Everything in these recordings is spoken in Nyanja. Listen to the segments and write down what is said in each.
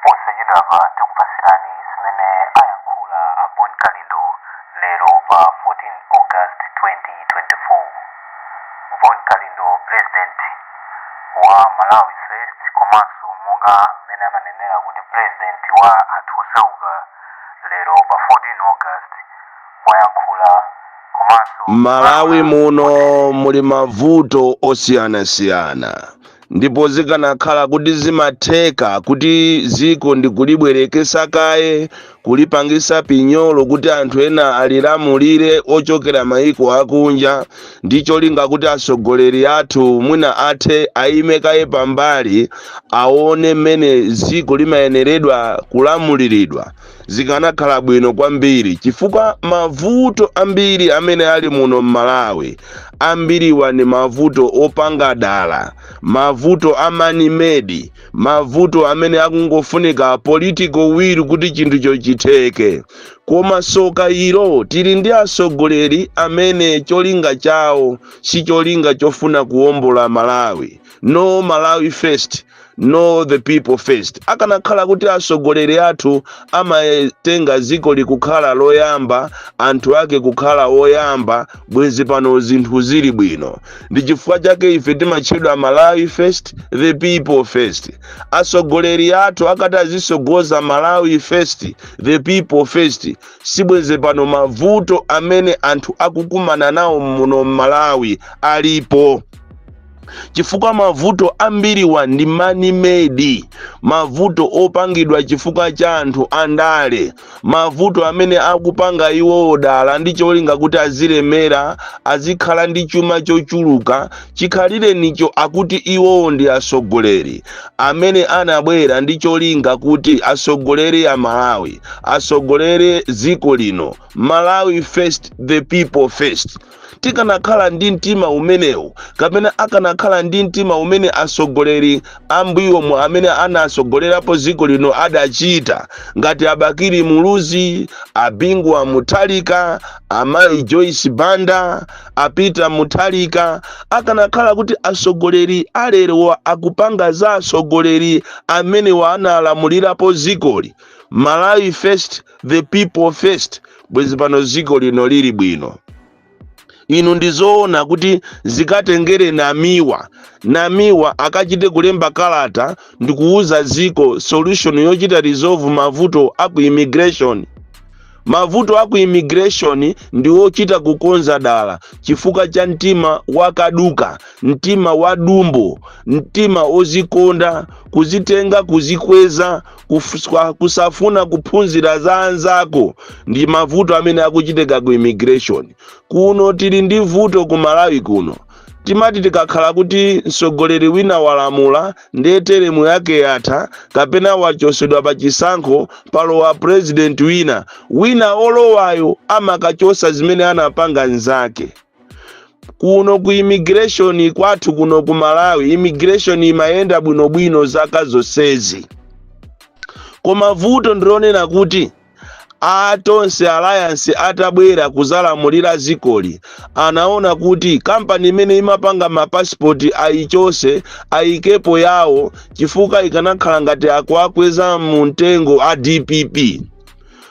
posachedwapa tikupatsirani zimene ayankhula bon kalindo lero pa 14 august 2024 bon kalindo president wa malawi first komanso monga mmene amanenera kuti president wa anthu osauka lero pa 14 august wayankhula komanso M'Malawi muno muli mavuto osiyanasiyana ndipo zikanakhala kuti zimatheka kuti dziko ndikulibwereketsa kaye kulipangisa pinyolo kuti anthu ena alilamulire ochokera maiko akunja ndi cholinga kuti atsogoleri athu mwina athe aime kaye pambali aone mmene dziko limayeneredwa kulamuliridwa zikanakhala bwino kwambiri chifukwa mavuto ambiri amene ali muno m'malawi ambiriwa ni mavuto opanga dala mavuto a man made mavuto amene akungofunika political will kuti chinthucho chitheke koma soka ilo tili ndi atsogoleri amene cholinga chawo si cholinga chofuna kuwombola malawi no malawi first no the people first akanakhala kuti atsogoleri athu amatenga dzikoli kukhala loyamba anthu ake kukhala oyamba bwenze pano zinthu zili bwino ndi chifukwa chake ife timatchedwa malawi first the people first atsogoleri athu akati azitsogoza malawi first the people first sibwenze pano mavuto amene anthu akukumana nawo muno m'malawi alipo chifukwa mavuto ambiriwa ndi man made mavuto opangidwa chifukwa cha anthu andale mavuto amene akupanga iwowo dala ndi cholinga kuti azilemera azikhala ndi chuma chochuluka chikhalirenicho akuti iwowo ndi atsogoleri amene anabwera ndi cholinga kuti atsogolere amalawi atsogolere dziko lino malawi first the people first tikanakhala ndi mtima umenewu kapena akanakhala ndi mtima umene atsogoleri ambuyomu amene anatsogolerapo dziko lino adachita ngati a bakili muluzi a bingu wa mutharika amayi joyce banda a peter mutharika akanakhala kuti atsogoleri alerowa akupanga za atsogoleri amenewa analamulirapo dzikoli malawi first the people first bwezi pano ziko lino lili bwino inu ndizoona kuti zikatengere namiwa namiwa akachite kulemba kalata ndikuwuza ziko solution yochita resolve mavuto aku immigration mavuto aku immigration ndi ochita kukonza dala chifukwa cha mtima wakaduka mtima wadumbo mtima ozikonda kuzitenga kuzikweza kusafuna kuphunzira za anzako ndi mavuto amene akuchitika ku immigration kuno tili ndi vuto ku malawi kuno timati tikakhala kuti mtsogoleri wina walamula ndiye teremu yake yatha kapena wachosedwa pa chisankho palowa purezidenti wina wina olowayo amakachosa zimene anapanga nzake kuno ku immigration kwathu kuno ku malawi immigration imayenda bwinobwino zaka zonsezi koma vuto ndilonena kuti a tonse alliance atabwera kuzalamulira zikoli anaona kuti kampani imene imapanga mapasipoti ayichose ayikepo yawo chifukwa ikanakhala ngati akuwakweza mu mtengo a dpp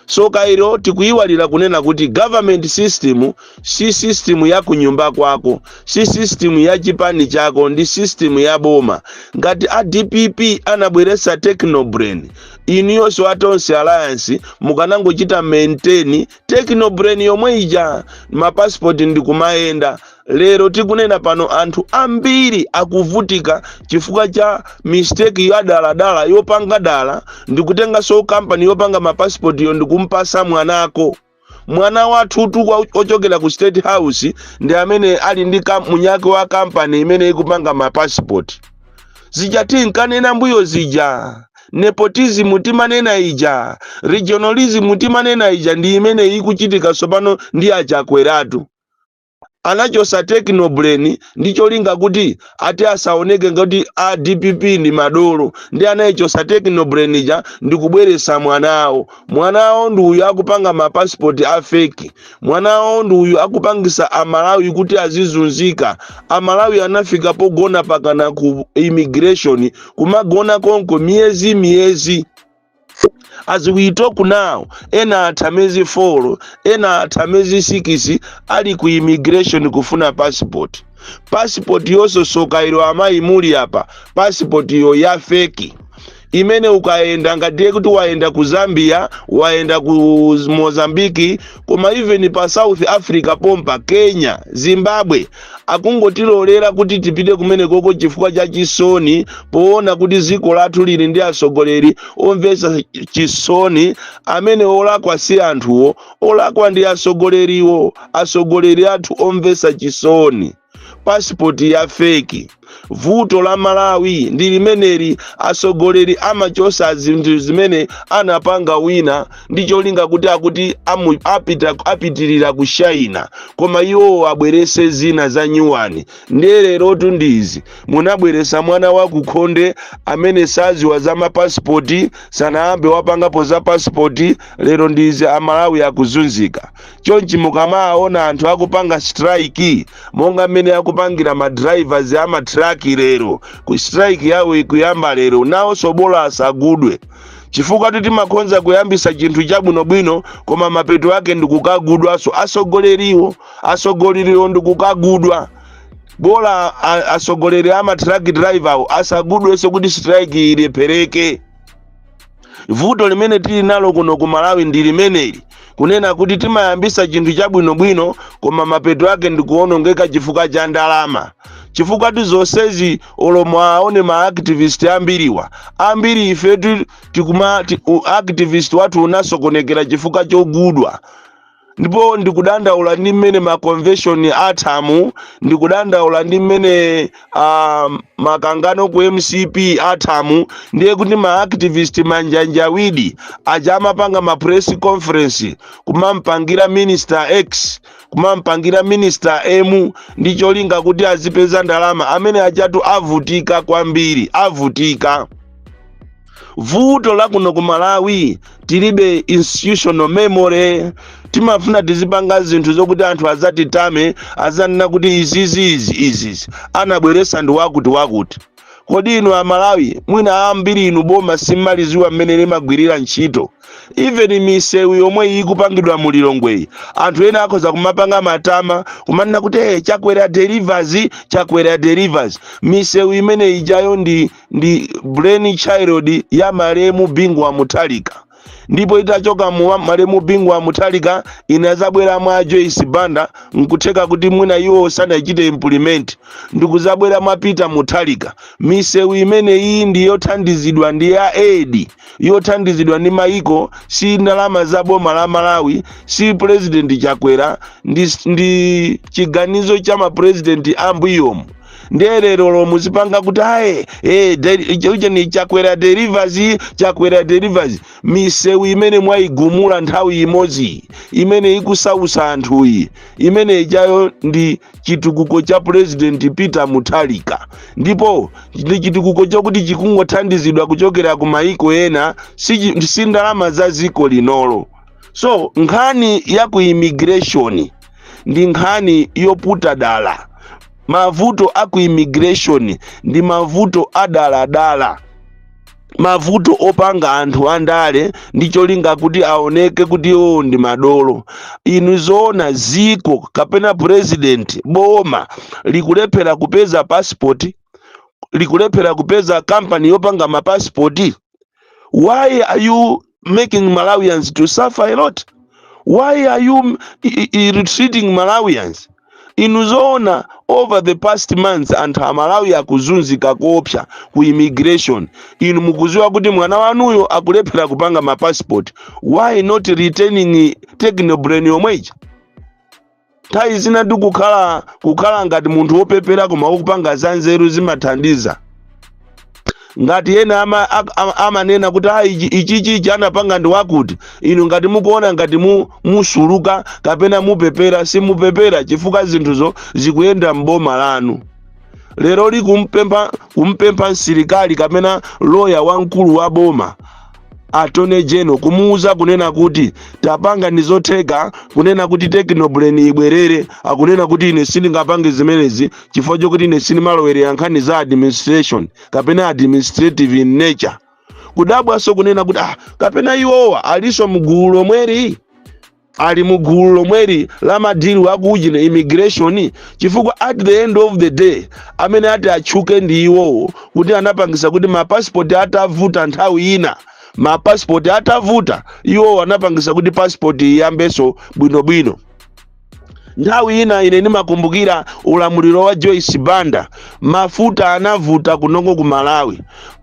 Soka ilo tikuyiwalira kunena kuti government system si system ya kunyumba kwako, si system ya chipani chako ndi system ya boma. Ngati a dpp anabweretsa technobrain, inuyonso a Tonse Alliance mukanangochita maintain technobrain yomwe ija, ma passport ndi kumayenda. lero tikunena pano anthu ambiri akuvutika chifukwa cha mistake ya daladala yopanga dala ndikutenganso kampani yopanga mapasipotiyo ndikumpasa mwanako mwana wathu wa- ochokera ku state house ndi amene ali ndi munyake wa kampani imene ikupanga mapasipoti zija tinkanena mbuyo zija nepotism timanena ija regionalism timanena ija ndi imene ikuchitika tsopano ndi a Chakweratu anachosa Tekno Brain ndi cholinga kuti ati asaoneke ngati a dpp ndi madolo ndiye anayichosa Tekno Brain ija ndi kubweretsa mwana awo mwana awo ndi uyu akupanga ma passport a fake mwana awo ndi uyu akupangisa amalawi kuti azizunzika amalawi anafika pogona pakana ku immigration kumagona konko miyezi miyezi as we talk now ena atha miyezi 4 ena atha miyezi 6 ali ku immigration kufuna passport passport yoso soka ilo amayi muli apa passport yo ya feki imene ukayenda ngati ye kuti wayenda ku zambia wayenda ku mozambiki koma even pa south africa pompa kenya zimbabwe akungotilolera kuti tipite kumenekoko chifukwa cha chisoni poona kuti dziko lathu lili ndi atsogoleri omvetsa chisoni amene olakwa si anthuwo olakwa ndi atsogoleriwo atsogoleri athu omvetsa chisoni pasipoti ya feki vuto la malawi ndi limeneli atsogoleri amachosa zinthu zimene anapanga wina ndi cholinga kuti akuti amu- apita apitirira kushaina koma iwowo abwerese zina za nyuwani ndiye lerotu ndi izi munabweresa mwana wa kukhonde amene saziwa za mapasipoti sanayambe wapangapo za pasipoti lero ndi izi amalawi akuzunzika chonchi mukamaona anthu akupanga strike monga mmene akupangira ma drivers a matraki lero ku strike yawo ikuyamba lero nawonso bola asagudwe chifukwa ti timakhonza kuyambisa chinthu chabwinobwino koma mapeto ake ndikukagudwanso asogoleriwo asogoleriwo ndikukagudwa bola a- asogoleri a matraki driver awo asagudwenso kuti strike ilephereke vuto limene tili nalo kuno ku malawi ndi limeneli kunena kuti timayambisa chinthu chabwinobwino koma mapeto ake ndikuonongeka chifukwa cha ndalama chifukwa ti zonsezi olomo aone ma activist ambiriwa ambiri ifetu tikuma ti, u- activist wathu unasokonekera chifukwa chogudwa ndipo ndikudandaula ndi mmene ma convention athamu ndikudandaula ndi mmene ah, makangano ku mcp athamu ndiye kuti ma activist manjanjawidi aja amapanga ma press conference kumampangira minister x kumampangira minister m ndi cholinga kuti azipeza ndalama amene ajatu avutika kwambiri avutika vuto la kuno ku malawi tilibe institutional memory timafuna tizipanga zinthu zokuti anthu azatitame azanena kuti izizi izi izizi anabweresa ndi wakuti wakuti kodi inu amalawi mwina ambiri inu boma simmaliziwa mmene limagwirira ntchito even misewu yomwe ikupangidwa mu lilongweyi anthu ena akhoza kumapanga matama kumanena kuti hey, chakwera delivers chakwera delivers misewu imene ijayo ndi ndi brain child ya malemu bingu wa muthalika ndipo itachoka mwa malemu bingu wa muthalika inazabwera mwa joyce banda nkutheka kuti mwina iwo sanachite implement ndikuzabwera mwa peter muthalika misewu imene iyi ndi yothandizidwa ndi ya aid yothandizidwa ndi maiko si ndalama za boma la malawi si president chakwera ndi, ndi chiganizo cha mapurezidenti ambuyomu ndiye lerolo muzipanga kuti aye eh, deli- icho icho ni chakwera delivers chakwera delivers misewu imene mwayigumula nthawi imodzi imene ikusausa anthuyi imene ijayo ndi chitukuko cha president peter mutharika ndipo ndi chitukuko chokuti chikungothandizidwa kuchokera ku mayiko ena si chi- si ndalama za dziko linolo so nkhani ya ku immigration ndi nkhani yoputa dala mavuto a ku immigration ndi mavuto adaladala mavuto opanga anthu andale ndi cholinga kuti aoneke kuti iwowo ndi madolo inu zoona ziko kapena president boma likulephera kupeza passport likulephera kupeza kampani yopanga mapasipoti why are you making malawians to suffer a lot why are you m- i- i- i- ill-treating malawians inu zoona over the past months anthu amalawi akuzunzika koopsa ku immigration inu mukuziwa kuti mwana wanuyo akulephera kupanga mapassport why not retaining technobrain yomweija nthawi zinadi kukhala kukhala ngati munthu wopepera koma ukupanga zanzeru zimathandiza ngati ena ama- a- a- amanena kuti ayi ichi- ichichi ichi anapanga ndi wakuti inu ngati mukuona ngati mu- musuluka kapena mupepera simupepera chifukwa zinthuzo zikuyenda m'boma lanu lero li- kumpempha kumpempha msilikali kapena loya wamkulu wa boma attorney general kumuuza kunena kuti tapangani zotheka kunena kuti technobrain ibwerere akunena kuti ine sindingapange zimenezi chifukwa chokuti ine sindimalowerera nkhani za administration kapena administrative in nature kudabwanso kunena kuti ah, kapena iwowa alinso mgulu lomweli ali mu gulu lomweli la madili a kuujeni immigration chifukwa at the end of the day amene ati atchuke ndi iwowo kuti anapangisa kuti mapasipoti atavuta nthawi ina mapasipoti atavuta iwowo anapangisa kuti pasipoti iyambenso bwinobwino nthawi ina ine ndimakumbukira ulamuliro wa joyce banda mafuta anavuta kunoko ku malawi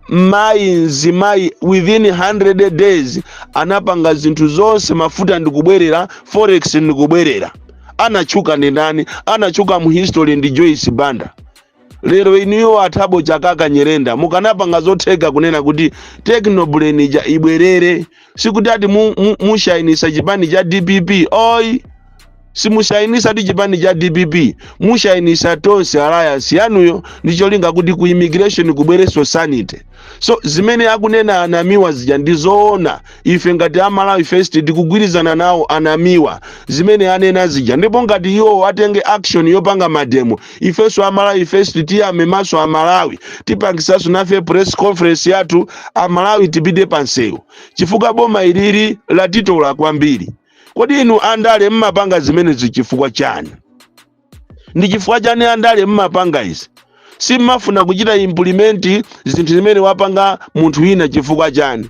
mayi mzimayi within 100 days anapanga zinthu zonse mafuta ndikubwerera forex ndikubwerera anatchuka ndi ndani anatchuka mu history ndi joyce banda lero inuyo a thabo chakaka nyirenda mukanapanga zotheka kunena kuti technobrain ija ibwerere sikuti ati mushainisa mu, mu, chipani cha dpp ayi simushainisa ndi chipani cha dpp mushainisa tonse alliance yanuyo ndi cholinga kuti ku immigration kubwerenso sanity so zimene akunena a namiwa zija ndi zoona ife ngati amalawi first tikugwirizana nawo a namiwa zimene anena zija ndipo ngati iwo atenge action yopanga mademo ifenso a malawi first tiyame maso amalawi tipangisanso nafe press conference yathu amalawi tipite pansewu chifukwa boma ilili latitola kwambiri kodi inu andale mmapanga zimenezi chifukwa chani ndi chifukwa chani andale mmapanga izi simmafuna kuchita implement zinthu zimene wapanga munthu wina chifukwa chani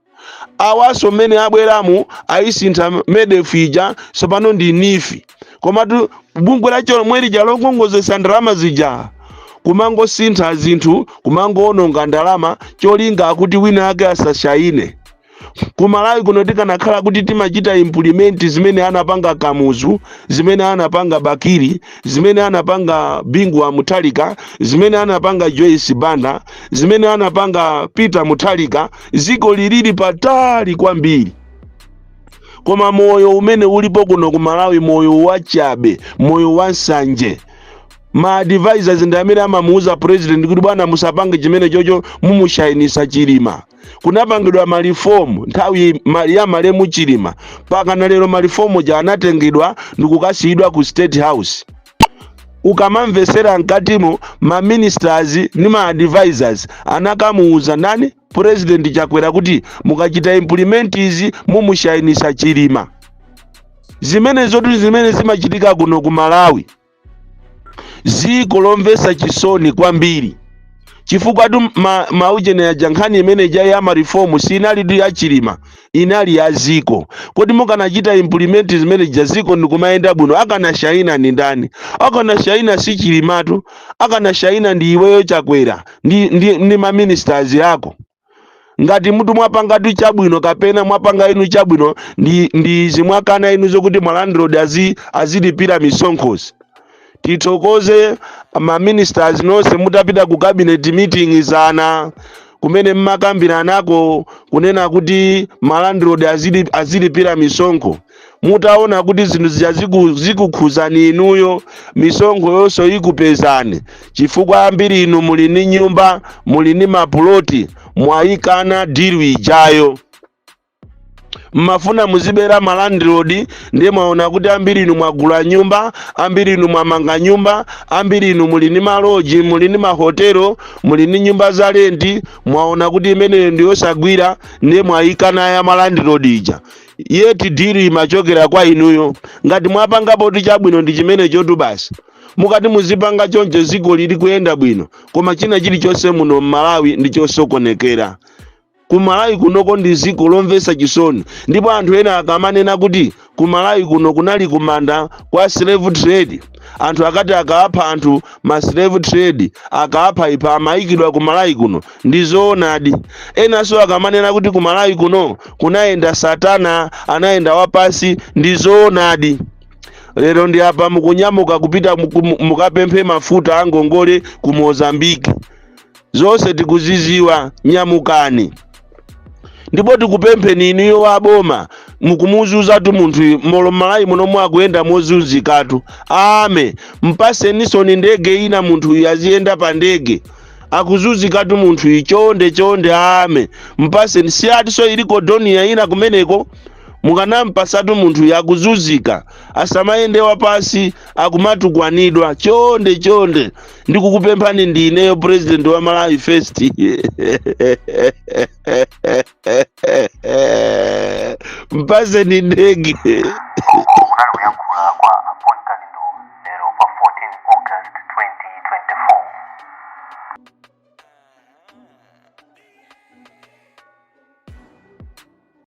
awanso mmene abweramu ayisintha medef ija sopano ndi neef komatu bungwe lake lomwe lija lokongozetsa ndalama zija kumangosintha zinthu kumangoononga ndalama cholinga akuti wina ake asashayine ku malawi kuno tikanakhala kuti timachita implement zimene anapanga kamuzu zimene anapanga bakili zimene anapanga bingu wa mutharika zimene anapanga joyce banda zimene anapanga peter mutharika zikoli lili patali kwambiri koma moyo umene ulipo kuno ku malawi moyo wachabe moyo wansanje ma advisors ndi amene amamuuza president kuti bwana musapange chimenechocho mumushayinisa chilima kunapangidwa malifomu nthawi ma- ya malemu chilima pakana lero malifomu aja anatengedwa ndikukasiyidwa ku state house ukamamvesera mkatimo ma ministers ndi ma advisors anakamuuza ndani president chakwera kuti mukachita implement izi mumushainisa chilima zimenezotu zimene zimachitika kuno ku malawi ziko lomvesa chisoni kwambiri chifukwatu ma, maujeni aja nkhani imene ija ya marifomu sinalitu ya chilima inali ya ziko kodi mukanachita implement zimene zija ziko ndikumayenda bwino akanashayina ndi ndani akanashayina si chilimatu akanashayina ndi iweyo chakwera ndi, ndi, ndi maministers ako ngati munthu mwapangatu chabwino kapena mwapanga inu chabwino ndi ndi izi mwakana inu zokuti malandlord azi azilipira misonkhozi tithokoze maministers nonse mutapita ku cabinet meeting zana kumene mmakambiranako kunena kuti malandlord azili- azilipira misonkho mutaona kuti zinthu zija ziku- zikukhuzani inuyo misonkhoyonso ikupezani chifukwa ambiri inu muli ndi nyumba muli ndi mapuloti mwayikana deal ijayo mmafuna muzibera malandlord ndiye mwaona kuti ambiri inu mwagula nyumba ambiri inu mwamanga nyumba ambiri inu muli ndi maloji muli ndi mahotelo muli ndi nyumba za lenti mwaona kuti imeneyo ndiyosagwira ndiye mwayikana ya malandlord ija yet deal imachokera kwa inuyo ngati mwapangapotu chabwino ndi chimenechotu basi mukati muzipanga choncho dzikoli likuyenda bwino koma china chilichonse muno m'malawi ndi chosokonekera ku malawi kunoko ndi dziko lomvetsa chisoni ndipo anthu ena akamanena kuti ku malawi kuno kunali kumanda kwa slave trade anthu akati akaapha anthu ma slave trade akaapha ipha amayikidwa ku malawi kuno ndi zoonadi enanso akamanena kuti ku malawi kuno kunayenda satana anayenda wapasi ndi zoonadi lero ndi apa mukunyamuka kupita muku- mukapemphe mafuta a ngongole ku mozambique zonse tikuziziwa nyamukani ndipo tikupempheni inuyo wa boma mukumuzuzatu munthuyu moyo mmalawi muno mwakuyenda mozunzikatu ame mpasenisoni ndege ina munthuyu aziyenda pa ndege akuzunzikatu munthuyu chonde chonde ame mpaseni si akutiso iliko dornier ina kumeneko mukanampasatu munthuyu akuzunzika asamayende wapasi akumatukwanidwa chonde chonde ndikukupemphani ndi ineyo president wa malawi first mpaseni ndege kunali kuyankhula kwa a bon kalindo lero pa 14 august 2024 Thank you.